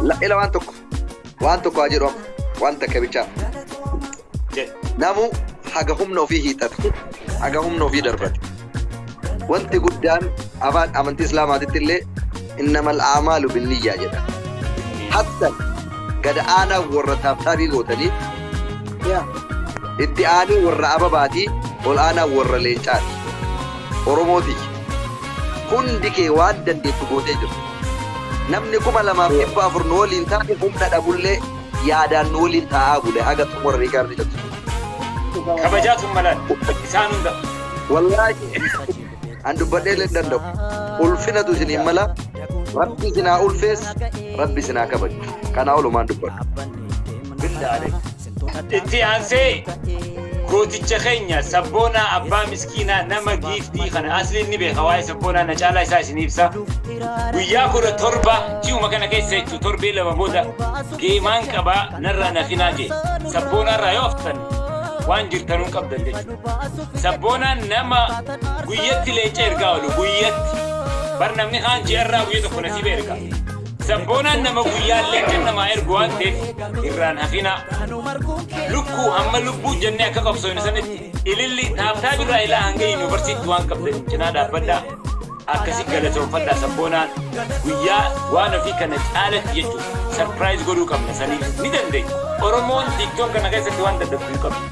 La- Ila waan tokko waan tokko haa jedhu amma waan takka bichaa Jedhe. namuu haga humna ofii hiixatu haga humna ofii darbatu wanti guddaan afaan amantii islaamaatitti illee innamal aamaalu binniyyaa jedha hattan gada aanaa warra taabtaabii gootanii yaa itti aanuu warra ababaatii ol aanaa warra leencaati oromootii hundi kee waan dandeettu gootee jirtu Namni 2400 nu waliin taa'e humna dhabullee yaadaan nu waliin taa'aa bule haga xumura riikaardii cabse. Kabajaa tummalaan isaan hunda. Wallaahi an dubbadhee illee hin danda'u. Ulfinatu isin hin mala. Rabbi isin haa ulfees, rabbi isin haa kabaju. Kanaa olumaan dubbadhu. Bildaa Itti aansee gooticha keenya sabboonaa abbaa miskiinaa nama giiftii kana asliin ni beeka waa'ee sabboonaa na caalaa isaa isin ibsa. Guyyaa kudha torba ji'uma kana keessa jechuun torbee lama booda geemaan qabaa narraa nafinaa jee sabboonaarraa yoo haftan waan jirtanuu qabdan jechuudha. Sabboonaan nama guyyatti leenca ergaa oolu guyyatti bar namni kaan ji'arraa guyya tokko nasiiba ergaa. Sabboonaan nama guyyaallee kan namaa ergu waan ta'eef irraan hafinaa. Lukkuu hamma lubbuu jennee akka qabsoofne sanitti ililli taabtaa birraa ilaa hanga yuunivarsiitti waan qabdan cinaa dhaabbadhaa. Akkasi galatoomfadhaa sabboonaan guyyaa waan ofii kana caalatti jechuudha. Sarpiraayiz godhuu qabna saniif ni dandeenya. Oromoon tiiktook kana keessatti waan dadhabduu qabna.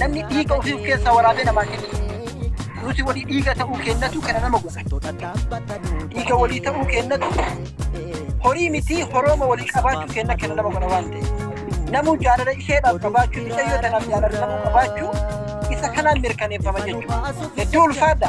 Namni dhiiga ofii of keessaa waraabee namaa kenna. Nuti walii dhiiga ta'uu kennatu kana nama godha. Dhiiga walii ta'uu kennatu horii miti horooma walii qabaachuu kenna kana nama godha waan ta'eef. Namuu jaalala isheedhaaf qabaachuu, mucayyoo tanaaf jaalala namuu qabaachuu isa kanaan mirkaneeffama jechuudha. Hedduu ulfaadha.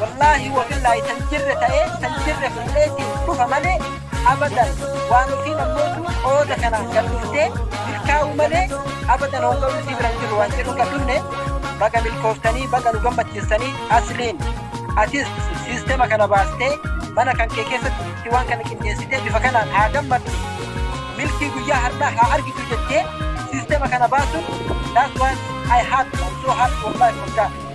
wallaahi wabillaahi tan jirre ta'ee tan jirre fudheetiin dhufa malee abadan waan ofii nammootu qooda kanaan gad dhuftee milkaa'u malee abadan honga'u isii bira hin jiru waan jedhu gad dhufne baga milkooftanii baga nu gammachiistanii asliin atis siistema kana baastee mana kan kee keessatti waan kana qindeessitee bifa kanaan haa gammaddu milkii guyyaa har'aa haa argitu jettee siistema kana baasuun that's why I had I'm so happy wallahi for that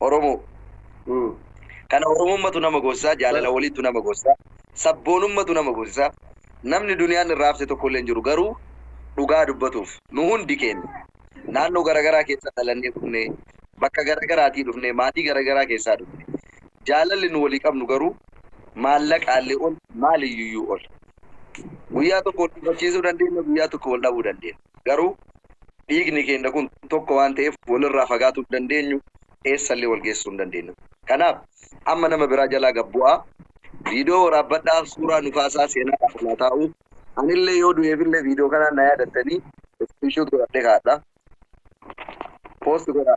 Oromoo. Kana Oromummatu nama goosisaa, jaalala waliittu nama goosisaa, sabboonummatu nama goosisaa. Namni duniyaan irraa hafte tokkollee hin jiru. Garuu dhugaa dubbatuuf, nu hundi keenya naannoo garagaraa keessa dhalannee dhufnee, bakka garagaraatii dhufnee, maatii garagaraa keessaa dhufne. Jaalalli nu walii qabnu garuu maallaqaallee ol, maaliyyuyyuu ol. Guyyaa tokko wal gufachiisuu dandeenna, guyyaa tokko wal dhabuu dandeenna. Garuu dhiigni keenya kun tokko waan ta'eef walirraa fagaatuu hin dandeenyu, eessallee wal geessuu hin dandeenyu. Kanaaf amma nama biraa jalaa gad bu'aa, viidiyoo waraabbadhaa, suuraa nu kaasaa, seenaadhaaf anaa taa'uu. Anillee yoo du'eefillee viidiyoo kanaan na yaadattanii iskiriinshuut godhadhee kaa'adha. Poosti godhaa.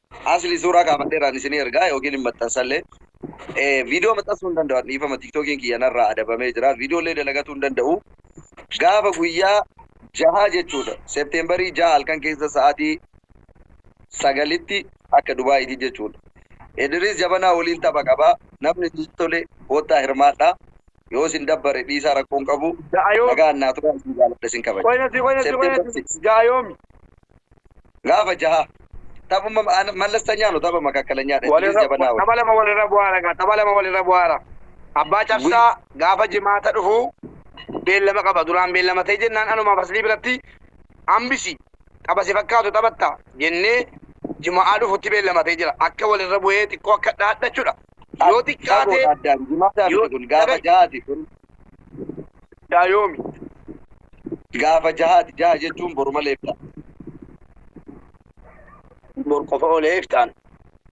Asli suuraa kaafadheeraan isinii ergaa yookiin hin maxxansallee. Eh, Viidiyoo maxxansuu hin danda'u. Dhiifama tiktookiin kiyya narraa adabamee jira. Viidiyoolee dalagatuu hin danda'u. Gaafa guyyaa jahaa jechuudha. Seepteembarii jaha halkan keessa sa'aatii sagalitti akka Dubaayiiti jechuudha. Idris Jabanaa waliin tapha qaba. Namni isin tole koottaa hirmaadha. Yoo isin dabbare dhiisaa rakkoon qabu. Ja'a yoomi? Nagaan naa turaa isin jaaladha isin kabaja. Qoyna si qoyna si qoyna September si 6. ja'a yoomi? Gaafa jahaa. Taphuma mallastanya no tapha makakkalanya dha. Idris Walirra Jabanaa wal. tapha lama walirra bu'aara egaa tapha lama walirra bu'aara. Abbaa Guyy. Cabsaa gaafa Jimaata dhufu beellama qaba. Duraan beellamatee jennaan anumaaf Aslii biratti hambisi tapha si fakkaatu taphatta jennee Juma'aa dhufutti beellamatee jira. Akka walirra bu'ee xiqqoo akka dhaadhachudha. Yoo xiqqaate Fagoodha addaan. Jimaata yoo miti kun gaafa dhaga'i. jahaati kun. Daa yoomi? Gaafa jahaati. Jaha jechuun boru malee ifta. Bor qofa oolee iftaan.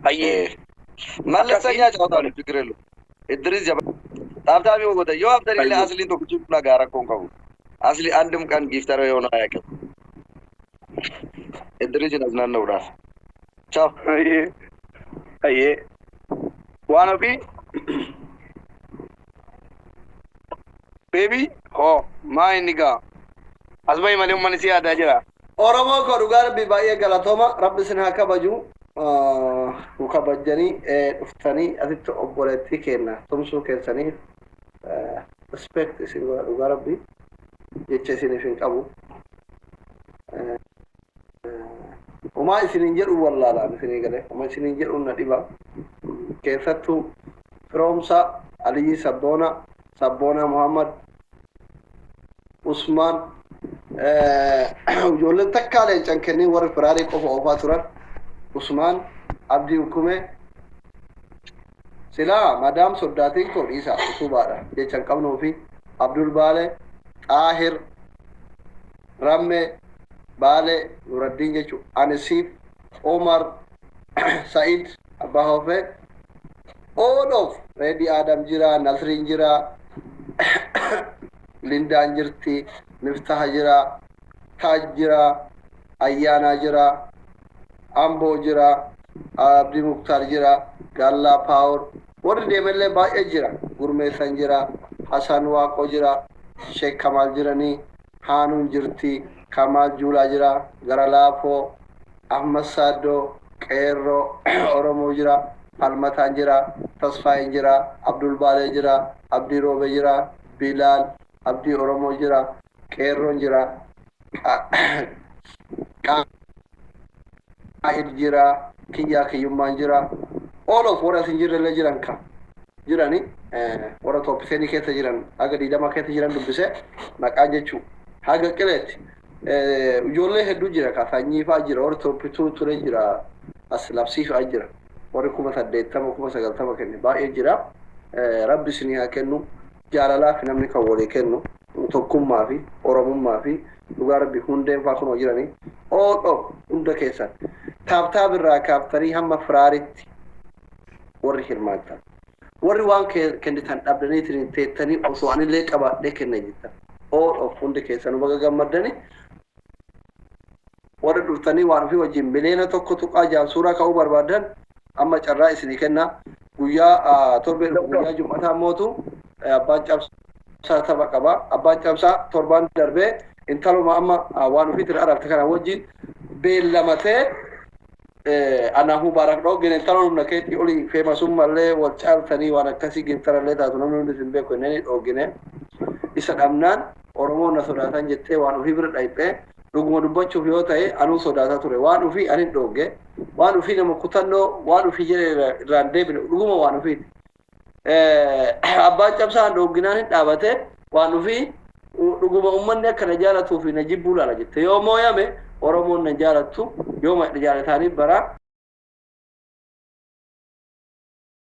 Hayyee. Malla Akkasii. sanyaa jabatan fikirelu. Idris jaba. Taaf taaf yoo gotan yoo haftan illee Hayyee. asliin tokko jiru nagaa rakkoon qabu. Asli andim kan giftara yoo naa yaqe. Edderee jinaas naanna'uudhaaf. Chaaw. Hayyee. Hayyee. Waan ofii. Beebii. Hoo. Maa inni gaa. As bahi malee uummanni si yaadaa jira. Oromoo koo dhugaa rabbii baay'ee galatooma rabbi isin haa kabaju nu kabajjanii dhuftanii asitti obboleettii keenna tumsuu keessaniif respect isin godha dhugaa rabbi jecha isinif hin qabu homaa isinin jedhu wallaalaan isinii gale homa isinin jedhu na dhiba keessattuu firoomsa aliyyi sabboona sabboona muhammad usmaan ijoolleen takkaa leencan kennee warri firaarii qofa oofaa turan usmaan abdii hukumee silaa madaam soddaa tiktoo dhiisa utuubaadha jecha hin qabnuufi abdul baale xaahir ramme baale nuraddiin jechu ani siif umar sa'id abbaa hofe all of reedi aadam jira nasriin jira lindaan jirti miftaha jira taaj jira ayyaanaa jira Amboo jira, Abdii Muktaar jira, Gaallaa Paawor, warri deemellee baay'ee jira. Gurmeessan jira, Hasan Waaqoo jira, Sheek Kamaal jiranii, Haanuun jirti, Kamaal Juulaa jira, Gara Laafoo, Ahmad Saaddoo, Qeerroo, Oromoo jira, Falmataan jira, Tasfaayeen jira, Abdul Baalee jira, Abdii Roobee jira, Bilaal, Abdii Oromoo jira, Qeerroon jira. Qaahid jira. Kiyyaa kiyyummaan jira. All of warra isin jirre illee jiran ka jirani warra tooppiseeni keessa jiran haga diidama keessa jiran dubbise maqaa jechuu haga qileetti ijoollee hedduu jira ka sanyii fa'aa jira warri tooppituu ture jira as labsii fa'aa jira warri kuma saddeettama kuma sagaltama kenne baay'ee jira rabbi isinii haa kennu Jaalalaafi namni kan walii kennu, tokkummaafi oromummaafi dhugaa rabbi hundeen faa kunoo jirani all of hunda keessan taab taab irraa kaaftanii hamma firaaritti warri hirmaattan warri waan kennitan dhabdaniitiniin teettanii osoo anillee qabaadhee kenna jettan all of hundi keessanu baga gammaddani Warri durtanii waan ofii wajjin miliyoona 1.6n suuraa ka'uu barbaaddan amma carraa isinii kenna. Guyyaa torbee dhufu guyyaa jum'ataa mootu abbaan cabsaa tapha qaba. Abbaan cabsaa torbaan darbee intaluma amma waan ofiitiin ararte kana wajjin beellamatee anaaf mubaarak dhooggen intala humna keetii olii feemasummallee wal caaltanii waan akkasii giftarallee taatu namni hundi isin beeku jenneen dhoogginee isa dhabnaan Oromoon na sodaatan jettee waan ufii bira dhayxe, dhuguma dubbachuuf yoo tahe anuu sodaata ture. Waan ufii anin dhoogge, waan ufii nama kutannoo waan ufii jedhe irraa hin deebine dhuguma waan ufiiti. Abbaan cabsaan dhoogginaan hin dhaabate waan ufii dhuguma ummanni akka na jaalatuu fi na jibbuu laala jette. Yoo mooyame Oromoon na hin jaalattu, yoo na jaalataanii bara.